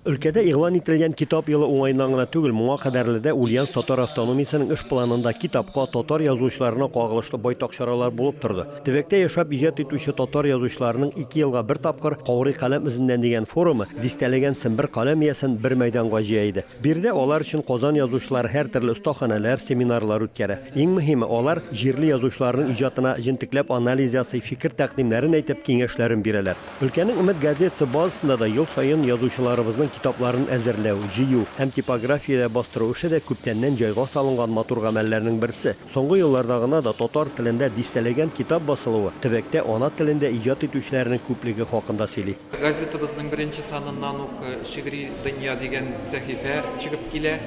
Өлкәдә игълан ителгән Китап елы уңаеннан гына түгел, моңа кадәрле дә Ульяновск татар автономиясенең эш планында китапка, татар язучыларына кагылышлы байтак чаралар булып торды. Төбәктә яшәп иҗат итүче татар язучыларының ике елга бер тапкыр Каурый каләм эзеннән дигән форумы дистәләгән сембер каләм иясен бер мәйданга җыя иде. Биредә алар өчен Казан язучылары һәртөрле остаханәләр, семинарлар үткәрә. Иң мөһиме, алар җирле язучыларның иҗатына җентекләп анализ ясый, фикер-тәкъдимнәрен әйтеп, киңәшләрен бирәләр. Өлкәнең Өмет газетасы базасында да ел саен язучыларыбызның китапларын әзерләү, җыю һәм типографиядә бастыру эше дә күптәннән җайга салынган матур гамәлләрнең берсе. Соңгы елларда гына да татар телендә дистәләгән китап басылуы төбәктә ана телендә иҗат итүчеләрнең күплеге хакында сөйли. Газетабызның беренче саныннан ук Шигъри дөнья дигән сәхифә чыгып килә.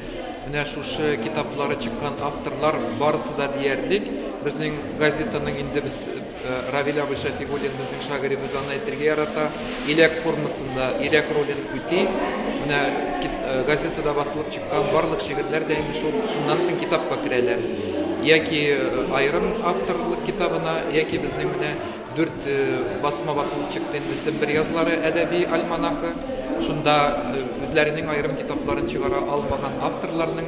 Менә шушы китаплары чыккан авторлар барысы да диярлек безнең газетаның инде без Равил абый Шәфигуллин безнең шагыйребез аны әйтергә ярата. Иләк формасында иләк ролен үти. Менә газетада басылып чыккан барлык шигырьләр дә инде шул шуннан соң китапка керәләр. Яки аерым авторлык китабына, яки безнең менә дүрт басма басылып чыкты инде Сембер язлары әдәби альманахы. Шунда үзләренең аерым китапларын чыгара алмаган авторларның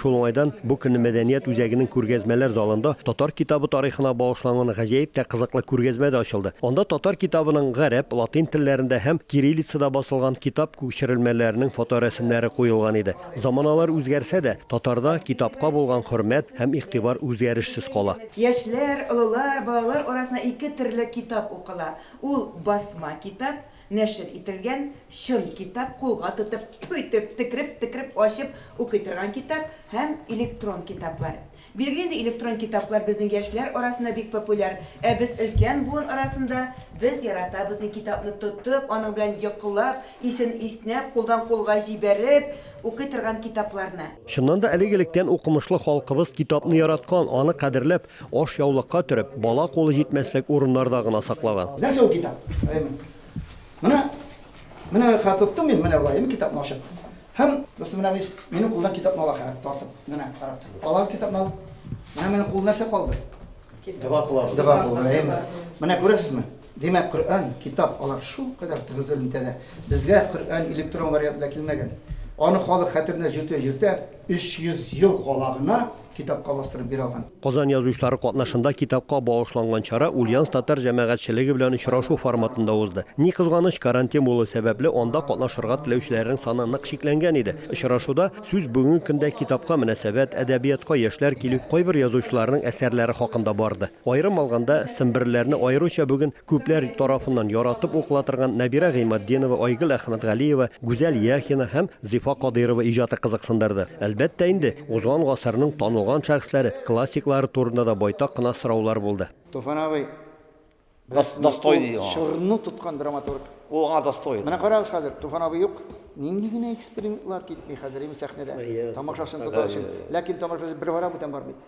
Шул уңайдан бу көнне мәдәният үзәгенең күргәзмәләр залында татар китабы тарихына багышланган гаҗәеп тә кызыклы күргәзмә дә ачылды. Анда татар китабының гарәп, латин телләрендә һәм кириллицада басылган китап күчерелмәләренең фоторәсемнәре куелган иде. Заманалар үзгәрсә дә, татарда китапка булган хөрмәт һәм игътибар үзгәрешсез кала. Яшьләр, олылар, балалар арасында ике төрле китап укыла, ул, басма китап, Нәшер ителгән чын китап кулга тотып, тфү итеп, текреп-текреп ачып укый торган китап һәм электрон китаплар. Бирегә инде электрон китаплар безнең яшьләр арасында бик популяр, ә без өлкән буын арасында без яратабыз ни китапны тотып, аның белән йокылап, исен иснәп, кулдан кулга җибәреп укый торган китапларны. Чыннан да, элек-электән укымышлы халкыбыз китапны яраткан, аны кадерләп, Ашъяулыкка төреп, бала кулы җитмәслек урыннарда гына саклаган. Нәрсә ул китап? Әймен. Менә, менә хәзер тоттым мин, менә болай, китапны ачып. Һәм, дустым, менә мис, минем кулдан китапны ала хәрәп тартып. Менә, карап тор. Алар китапны алып. Менә минем кулда нәрсә калды? Дога кылабыз. Дога кылабыз, әйме. Менә күрәсезме? Димәк, Коръән, китап, алар шул кадәр тыгыз элемтәдә. Безгә Коръән электрон вариантында килмәгән. Аны халык хәтеренә җөртә-җөртә, 300 ел кала гына. китапка бастырып бирә алган. Казан язучылары катнашында китапка багышланган чара Ульяновск татар җәмәгатьчелеге белән очрашу форматында узды. Ни кызганыч, карантин булуы сәбәпле, анда катнашырга теләүчеләрнең саны нык чикләнгән иде. Очрашуда сүз бүгенге көндә китапка мөнәсәбәт, әдәбиятка яшьләр килү, кайбер язучыларның әсәрләре хакында барды. Аерым алганда, семберлеләрне аеруча бүген Күпләр тарафыннан яратып укыла торган Нәбирә Гыйматдинова, Айгөл Әхмәтгалиева, Гүзәл Яхина һәм Зифа Кадыйрова иҗаты кызыксындырды. Әлбәттә инде, узган гасырның танылган шәхесләре, классиклары турында да байтак кына сораулар булды. Туфан абый, Достойный ул. Чорны тоткан драматург. Ул аңа достойный. Менә карагыз хәзер, Туфан абый юк, нинди генә экспериментлар китми хәзер, әйеме, сәхнәдә. Тамашачыны тотар өчен. Ләкин тамашачы бер бара, бүтән бармый.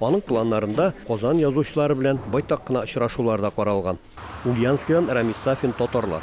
Аның планнарында Казан язучылары белән байтак кына очрашулар да каралган. Ульяновскидан Рамис Сафин, Татарлар.